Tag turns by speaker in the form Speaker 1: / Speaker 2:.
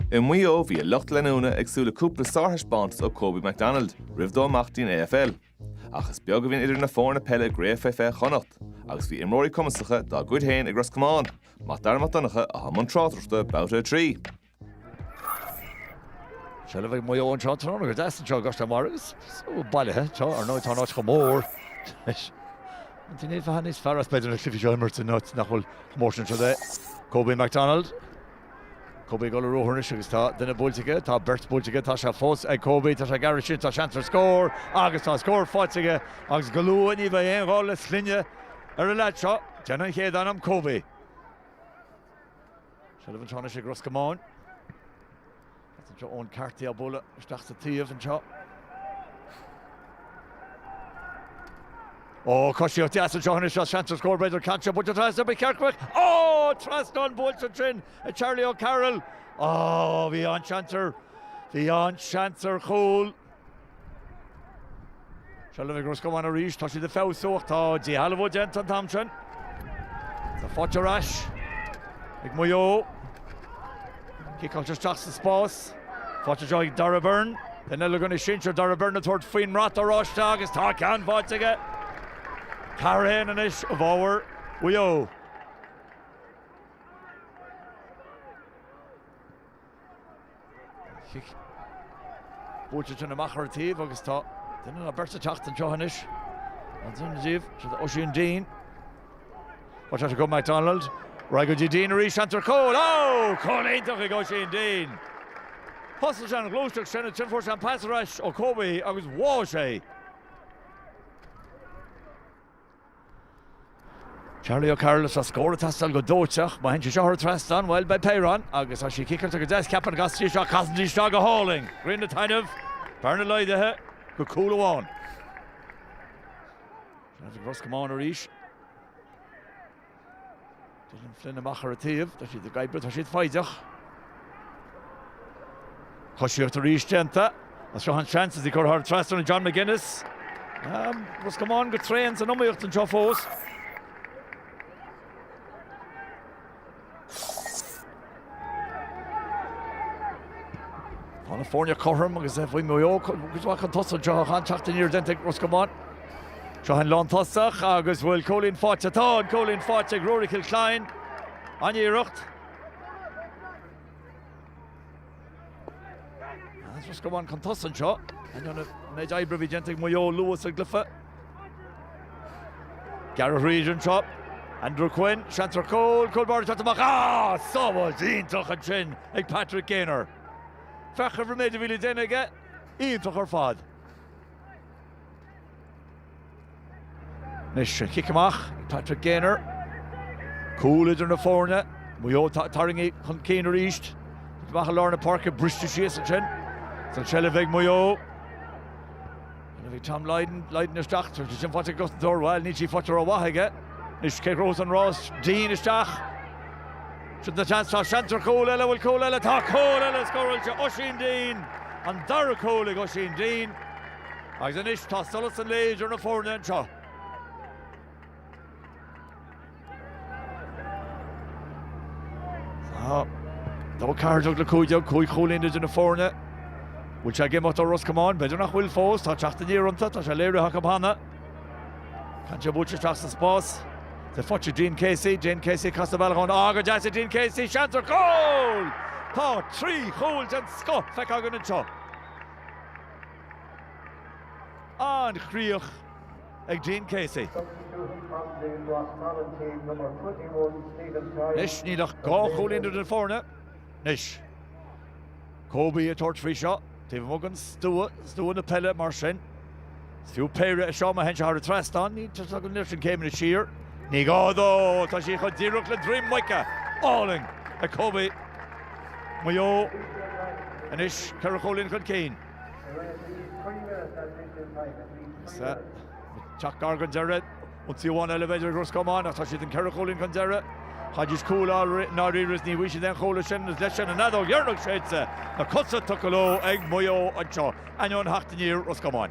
Speaker 1: I Maigh Eo bhí a lucht leanúna ag súil le cúpla sárthaispeántas ó Kobe McDonald roimh dó imeacht go dtí an AFL. Ach is beag a bhíonn idir na foirne peile i gCraobh Faoi Fiche Chonnacht agus bhí imreoirí cumasacha dá gcuid féin ag Ros Comáin, Mac Dara Mac Donncha atá i mbun tráchtaireachta, Babhta 3.
Speaker 2: Seilbh ag Maigh Eo anseo tráth nuair a d'fhás anseo i gCois Fhionn Mhairbh agus bailithe anseo ar ndóigh tá an áit chomh mór is an dtuigeann tú bheadh sé níos fearr is b'fhéidir na cluichí seo a imirt in áit nach bhfuil chomh mór sin anseo é Kobe McDonald. Kobe ag dul ar ruathar anois agus tá duine buailte aige, tá beirt buailte aige, tá sé fós ag Kobe, tá sé gar ansin, tá seans ar scór agus tá scór faighte aige agus go luath ní bheidh aon ghá le sloinne ar an leaid seo, déanfaidh an chéad ainm Kobe. Seilbh anseo anois ag Ros Comáin. Agus anseo Eoin Carty á bualadh isteach sa taobh anseo. Ó cosíocht deas anseo anois is seans ar scór b'fhéidir caite buailte trasna ar Chearcach. Ó trasnán buailte ansin ag Charlie O'Carroll. Ó bhí an-seans ar, bhí an-seans ar chúl. Seilbh ag Ros Comáin arís, tá siad ag feabhsú ach tá díshealbhú déanta an t-am sin. Tá fáilte ar ais ag Maigh Eo. Ciceáilte isteach sa spás. Faighte anseo ag Darragh Beirne. Duine eile de ghunnaí sinsir Darragh Beirne ag tabhairt faoin mbrat oráiste agus tá ceann faighte aige. Ceathair a haon anois i bhfabhar Mhaigh Eo. Chic buailte ansin amach ar an taobh agus tá duine ná beirt ag teacht anseo anois. An duine díobh, sin Oisín Deane. Faighte ag McDonald. Ar aghaidh go dtí Deane arís, seans ar chúl. Ó! Cúl iontach ag Oisín Deane. Thosaigh sé an ghluaisteacht sin, ansin fuair sé an pas ar ais ó Kobe agus bháigh sé. Charlie O'Carroll is a' scór ag teastáil go dóiteach. Má théann sé seo thar trasnán, bhuel, beidh péire ann agus tá sí ciceáilte go deas. Ceapaim go gcasfaidh sí isteach, casann sí isteach go hálainn. Grian ag taitneamh. Bearna laghdaithe go cúl amháin. Seans ag Ros Comáin arís. Dylan Flynn amach ar an taobh, tá siad ag oibriú, tá siad foighdeach. Coisíocht arís déanta, agus seo an seans, is í curtha thar trasnán ag John McGuinness. Ros Comáin go tréan san iomaíocht anseo fós. Tá na foirne cothrom agus bhí Maigh Eo cuid mhaith chun tosaigh anseo. Tá an-teacht aniar déanta ag Ros Comáin. Seo an lántosaí agus bhfuil cúilín faighte? Tá an cúilín faighte ag Ruairí Kilcline. An-iarracht. Ros Comáin chun tosaigh anseo ainneoin an méid oibre a bhí déanta ag Maigh Eo luath sa gcluiche. Gearradh thríd anseo, Andrew Quinn, seans ar chúl, cúl báire ag teacht amach, ah! sábháilt iontach ansin ag Patrick Gaynor. Féach ar an méid a bhí le déanamh aige, iontach ar fad. Anois an chic amach ag Patrick Gaynor. Cúl idir na foirne. Maigh Eo atá ag tarraingt chun cinn arís. Amach i lár na páirce, briste síos ansin. Is an tseilbh ag Maigh Eo. Ina bhí Tom Lydon, Lydon isteach, tá sin faighte ag cosantóir, bhuel níl sí faighte rómhaith aige. Anois cé rós an rás, Dean isteach. Sin an chance, tá seans ar chúl eile, bhfuil cúl eile, tá cúl eile scóráilte, Oisín Dean, an dara cúl ag Oisín Dean. Agus anois tá solas an lae idir na foirne anseo. Dó ceathair déag le cúig déag, cúig chúilín idir na foirne. Bhfuil sé ag imeacht ó Ros Comáin? B'fhéidir nach bhfuil fós, tá teacht aniar iontu, tá sé léirithe acu cheana. Ceann seo buailte isteach sa spás? Tá faighte ag Dean Casey, Dean Casey casadh bealach amháin, á go deas ag Dean Casey, seans ar chúl! Tá trí chúl den scoth feicthe againn anseo. An chríoch ag Dean Casey. Anois níl ach dhá chúilín idir na foirne anois. Kobe ag tabhairt faoi seo taobh amuigh den stua, stua na peile mar sin. Is fiú péire a seo, má théann sé thar an trasnán, níl sé ag goil an oiread sin céimeanna siar. Ní gá dó! Tá sí chomh díreach le droim muice! Álainn! Ag Kobe! Maigh Eo. Anois, ceithre chúilín chun cinn. Is é ag teacht gar don deireadh. Ionsaí amháin eile b'fhéidir ag Ros Comáin ach tá siad an ceithre chúilín chun deiridh. Chaithfidís cúl a fháil i ndáiríre is ní bhfaighidh siad aon chúl ansin agus leis sin an fheadóg dheireanach séidte na cosa tugtha leo ag Maigh Eo anseo, ainneoin theacht aniar Ros Comáin.